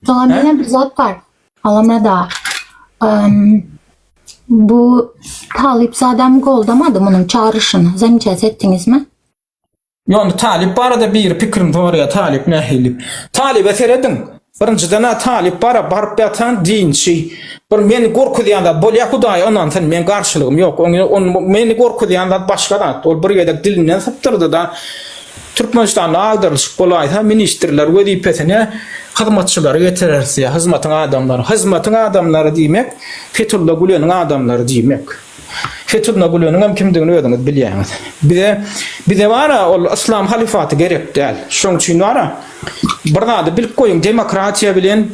Soňra Hä? menen bir zat bar. Alamada. Em, bu talyp zadam goldamadı bunun çağrışını. Zamças ettiniz mi? Ýöne talyp barada biri pikirini soraýar, talyp nähili? Talyba serediň. Birinjiden ha talyp bara baryp ýatan dinçi. Bir meni gorkuzýan zat bolýar Hudaýa ynansyn, men garşylygym ýok. Oňa on meni gorkuzýan zat başga zat. Ol bir gezek dilinden sypdyrdy-da, Türkmenistanda agdarlyşyk bolaýsa, ministrler wezipesine hyzmatçylary getireris ýa hyzmatyň adamlary. Hyzmatyň adamlary diýmek, Fethulla Güleniň adamlary diýmek. Fethulla Güleniňem kimdigini özüňiz bilýäňiz. Bize, bize bar-a, ol yslam halyfaty gerek däl. Şoň üçin bar-a, bir zady bilip goýuň, demokratiýa bilen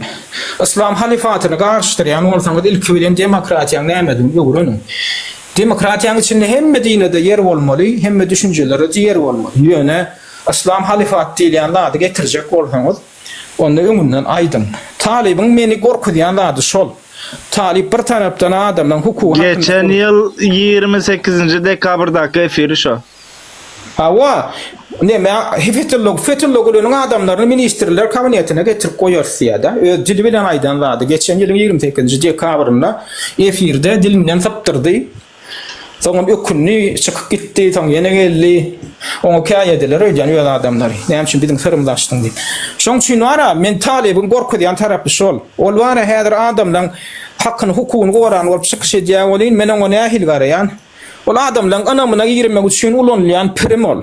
yslam halyfatyny garyşdyrýan bolsaňyz, ilki bilen demokratiýaň nämedigini öwreniň. Demokratiýanyň içinde hemme dine-de ýer bolmaly, hemme düşünjelere-de ýer bolmaly. Ýöne Yslam halyfaty diýilýän zady getirjek bolsaňyz, onda öňünden aýdyň. Talybyň meni gorkuzýan zady şol. Talyp bir tarapdan adamlaryň hukugy hakynda gürleýär. Geçen ýyl ýigrimi sekizinji dekabrdaky efiri şo. Hawa, näme, Fetullo, Fetullo Güleniň adamlaryny ministrler kabinetine getirip goýarys ýa-da. Öz dili bilen aýdan zady. Geçen ýylyň ýigrimi sekizinji dekabrynda efirde dilinden sypdyrdy. Soňam ökündi, çykyp gitdi, soň ýene geldi. Oňa käýediler öýdýän öz adamlary. Näme üçin biziň syrymyzy açdyň diýip. Şoň üçin bar-a, men Talybyň gorkuzýan tarapy şol. Ol bar-a häzir adamlaň hakyny, hukugyny goran bolup çykyş edýär welin, men oňa nähili garaýan? Ol adamlaryň ynamyna girmek üçin ulanylýan prim ol.